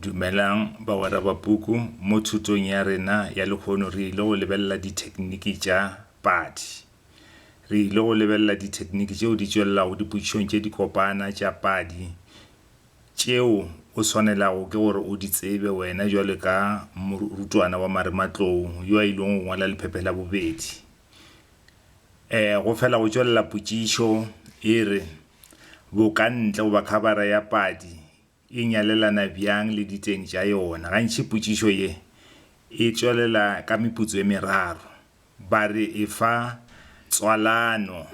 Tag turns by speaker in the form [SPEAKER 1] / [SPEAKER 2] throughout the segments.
[SPEAKER 1] Dumelang bagwera ba puku, mo thutong ya rena ya lehono re ile go lebelela dithekniki tša padi. Re ile go lebelela dithekniki tšeo di tšwelelago dipotšišong tše di kopana tša padi tšeo o swanelago ke gore o di tsebe wena bjalo ka morutwana wa marematlou yo a ilego go ngwala lephephe la bobedi. Um go fela go tšwelela potšišo e re, Bokantle goba khabara ya padi e nyalelana bjang le diteng tša yona? Gantši potšišo ye e tšwelela ka meputso e meraro. Ba re e fa tswalano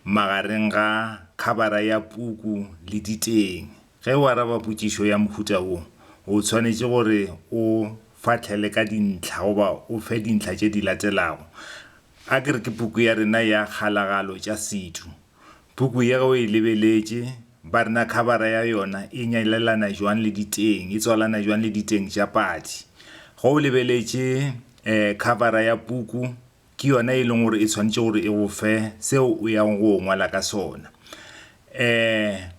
[SPEAKER 1] magareng ga khabara ya puku le diteng. Ge o araba potšišo ya mohuta wo, o tshwanetše gore o fahlele ka dintlha goba o fe dintlha tše di latelago, Ake re ke puku ya rena ya Kgalagalo tša Setho. Puku ye ge o e lebeletše, ba re na khabara ya yona e nyalelana jwang le diteng, e tswalana jwang le diteng tša padi. Ge o lebeletše um khabara ya puku, ke yona e leng gore e tshwanetše gore e go fe seo o yang go ngwala ka sona. Um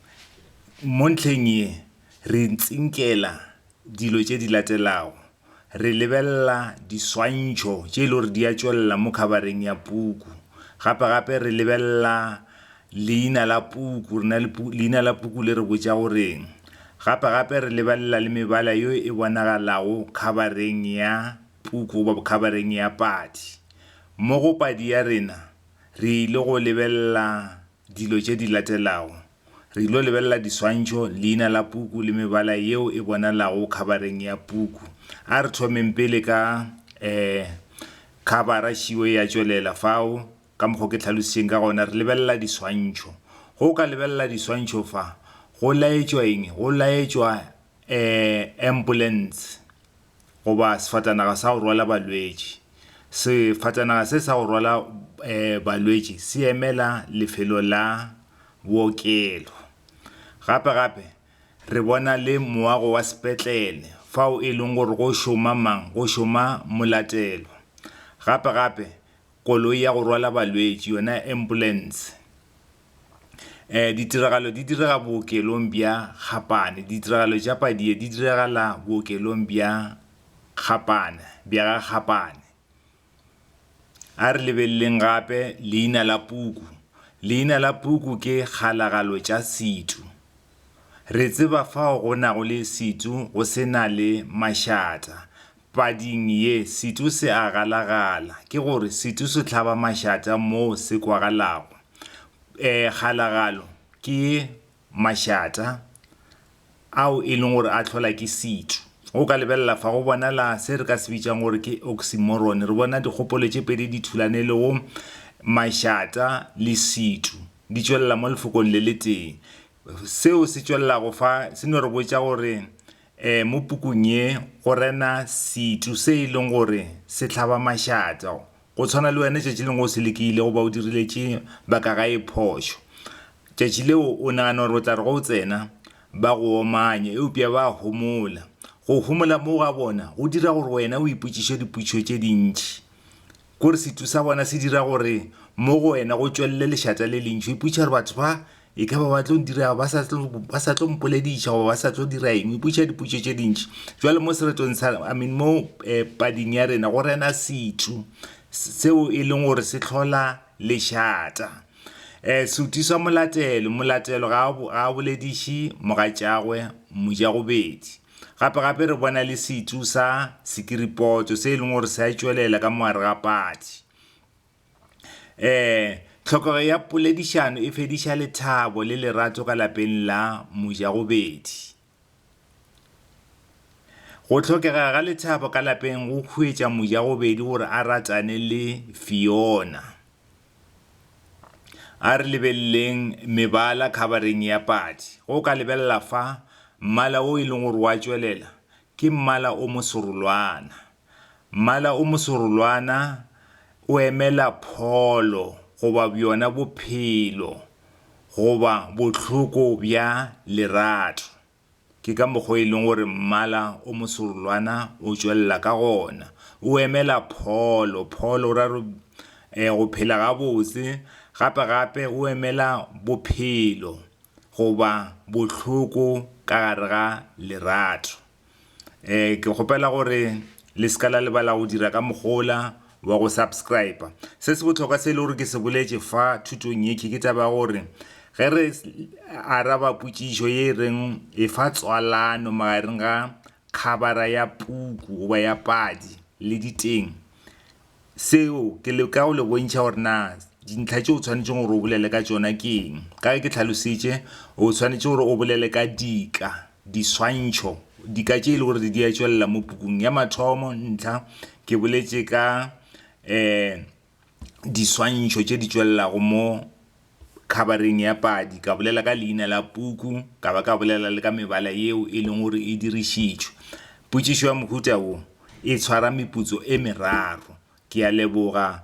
[SPEAKER 1] Mo ntlheng ye, re tsinkela dilo tše di latelago. re lebelela diswantšho tše e le gore di a tšwelela mo khabareng ya puku gape gape re lebelela leina la puku rena le leina la puku le re botša goreng gape gape re lebelela le mebala yo e bonagalago khabareng ya puku goba khabareng ya padi mo go padi ya rena re ile go lebelela dilo tše di latelago. Re ilo lebelela diswantšho, leina la puku le mebala yeo e bonalago khabareng ya puku. A re thomeng pele ka eh, khabara šiwe ya tšwelela fao. Ka mokgwa o ke hlalošitšeng ka gona, re lebelela diswantšho. Go ka lebelela diswantšho fa go laetšwa eng? Go laetšwa eh, ambulance. goba sefatanaga sa go rwala balwetši. Sefatanaga se sa go rwala balwetši se emela lefelo la bookelo. Gape-gape re bona le moago wa sepetlele fao e leng gore go šoma mang? Go šoma molatelwa. Gape-gape koloi ya go rwala balwetši yona ambulance eh ditiragalo di direga bookelong bja Gapane ditiragalo tša Padie di diragala bookelong bja Gapane bja ga Gapane a re lebeleleng gape leina la puku leina la puku ke kgalagalo tša situ re tseba fao go nago le situ go se na le mašata Pading ye, setu se a galagala, ke gore setu se hlaba mašata moo se kwagalago. E, kgalagalo ke mašata ao e leng gore a hlola ke setu. O ka lebelela fa, go bonala se re ka se bitšang gore ke oxymoron. Re bona dikgopolo tše pedi di thulana e lego mašata le setu, di tšwelela mo lefokong le le tee. Seo se tšwelelago fa se no re botša gore Ee, mo pukung ye go rena setšo se e leng gore se hlaba mašata, go tshwana le wena tšatši lengwe o se lekile goba o diriletše ba ka gae phošo. Tšatši leo o nagana gore o tla re ge o tsena ba go omanye, eupša ba homola. Go homola moo ga bona go dira gore wena o ipotšiše dipotšišo tše dintši. Gore sethu sa bona se dira gore mo go wena go tšwelele lešata le lentši. O ipotšiša gore batho ba e ka ba ba tlo dira ba sa tlo ba sa tlo mpolediša goba ba sa tlo dira eng. O ipotšiša dipotšo tše dintši. Jwale mo seretong sa I mean mo eh, pading ya rena go rena sethu seo e leng gore se tlhola lešata. Eh, sethu sa molatelo, molatelo ga a bolediše mogatšagwe mojagobedi. Gape-gape re bona le setsu sa sekiripotso se e leng gore se a tšwelela ka mogare ga patsi. Um Tlhokego ya poledišano e fediša lethabo le lerato ka lapeng la mojagobedi. Go hlokega ga lethabo ka lapeng go huetša mojagobedi gore a ratane le Fiona. A re lebeleleng mebala khabareng ya padi. Ge o ka lebelela fa, mmala o e leng gore o a tšwelela ke mmala o moserolwana. Mmala o moserolwana o emela pholo goba bjona bophelo goba bohloko bja lerato. Ke ka mokgwa o e leng gore mmala o moserolwana o tšwelela ka gona. O emela pholo, pholo o ra re go phela gabotse, gape-gape o emela bophelo goba bohloko ka gare ga lerato. Ke kgopela gore le se ka la lebala go dira ka mokgwa ola. wa go subscriber. Se se bohlokwa se e le gore ke se boletše fa thutong ye ke taba ya gore ge re araba potšišo ye e reng e fa tswalano magareng ga khabara ya puku goba ya padi le diteng seo ke le ka go le bontšha gore na dintlha tše o tshwanetseng gore o bolele ka tšona ke eng ka ge ke tlhalositše o tshwanetse gore o bolele ka dika Diswantšho, Dika tše e lego gore di a tšwelela mo pukung ya mathomo, ntlha, ke boletše ka um diswantšho tše di tšwelelago mo khabareng ya padi, ka bolela ka leina la puku, ka ba ka bolela le ka mebala yeo e leng gore e dirišitšwe. Potšišo ya mohuta wo e tshwara meputso e meraro. Ke a leboga.